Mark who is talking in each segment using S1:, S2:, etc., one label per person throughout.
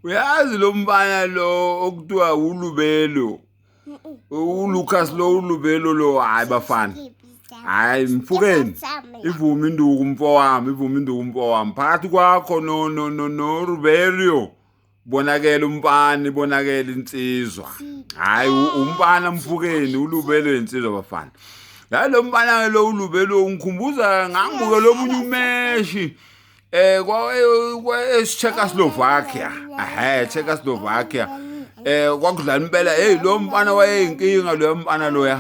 S1: Uyazi lo mfana lo okuthiwa uLubelo uLucas lo uLubelo lo hayi bafana hayi mfukeni ivuma induku mfowami ivuma induku mfowami phakathi kwakho no no no no Ruberio bonakele umpani bonakele insizwa hayi umpana mfukeni ulubelwe insizwa bafana la lo mpana lo ulubelwe ungikhumbuza ngangibuke lomunye umeshi eh kwa eCzechoslovakia ehe Czechoslovakia eh kwakudlala impela hey lo mfana wayeyinkinga lo mfana loya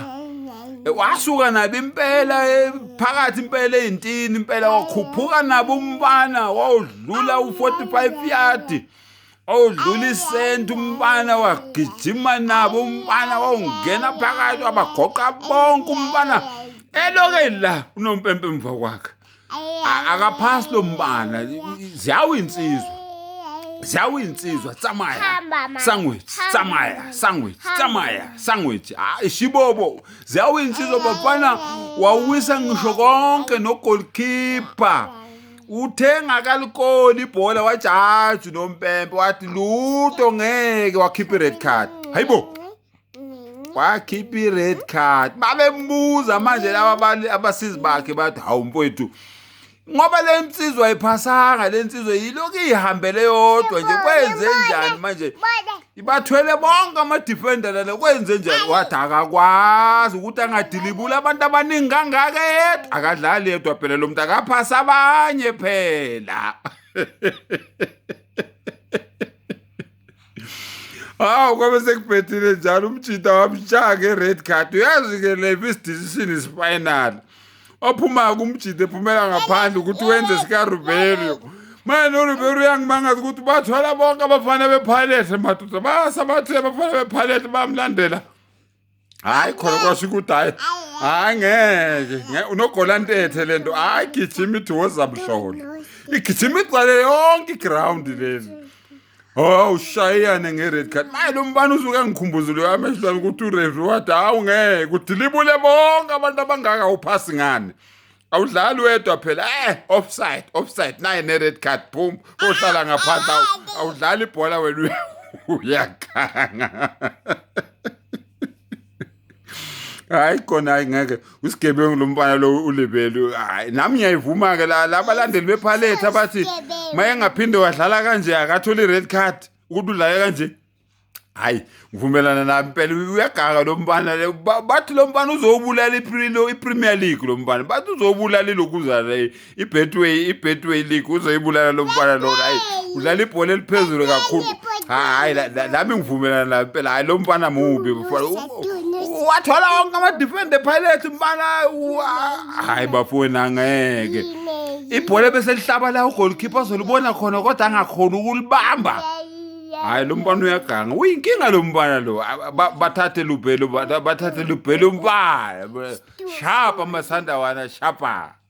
S1: eh, wasuka nabi impela eh, phakathi impela ezintini impela wakhuphuka nabo umfana wawudla wadlula u-45 yard owudlula isenti umfana wagijima nabo umfana wawungena phakathi wabagoqa bonke umfana eloke la unompempe emva kwakhe akaphasi lo mfana ziyawu insizwa ziyawu insizwa tsamaya sandwich tsamaya sandwich tsamaya sandwich hayi shibobo ziyawu insizwa bafana wawisa ngisho konke nogolkipa Uthe ngakalikoni ibhola wajaji nompempe wathi luto ngeke wakhipha i-red card. Hayibo. Wakhipha i-red card. Babembuza manje laba abali- abasizi bakhe bathi hawu mfowethu. Ngoba le nsizwa iphasanga le nsizwa yilokhu ihambele yodwa nje kwenze njani manje? Bona. ibathwele bonke amadefender lana kwenze njani wathi akakwazi ukuthi angadilibuli abantu abaningi kangaka yedwa akadlali yedwa phela lo muntu akaphasi abanye phela hawu kwabe sekubhethile njalo umjita wamshaya nge-red card uyazi-ke levi isidizision isifinal ophumayo kumjide phumela ngaphandle ukuthi wenze sikaruberio manje noruberio uyangimangaza ukuthi bathwala bonke abafana bephalethe madoda basabathe abafana bephalethe bamlandela hayi khona kwasho ukuthi hayi hayi ngeke unogolantethe le nto hayi gijima ithi wozamhlola igijima igcwale yonke iground leli Oh ushayane ngered card. Maye lo mbani usuke angikhumbuzile amehlo ami ukuthi ureferee wathi hawu ngeke udilibule bonke abantu abangaka uphasi ngani. Awudlali wedwa phela eh offside offside naye ne red card boom ohlala ngaphandle awu- awudlali ibhola wena uyakhanga. hayi khona hayi ngeke usigebengu lo mfana lo ulebelu hayi nami ngiyayivuma-ke la labalandeli bephalethi abathi uma engaphinde wadlala kanje akatholi i-red card ukuthi udlale kanje hayi ngivumelana nami impela uyagaka lo mfana bathi lo mfana uzowubulala i-premier league lo mfana bathi uzowubulala ilokuzana ibetway ibetway league uzoyibulala lo mfana lona hayi udlala ibhola eliphezulu kakhulu hayi lami ngivumelana nayo impela hayi lo mfana mubi wathola wonke amadefende epirates mfana hayi bafowenu angeke ibhola ebeselihlaba la ugolkhipha azolibona khona kodwa angakhona ukulibamba hayi lo mfana uyaganga uyinkinga lo mfana lo bathathe lubhelo bathathe lubhelo mfana shapa amasandawana shapa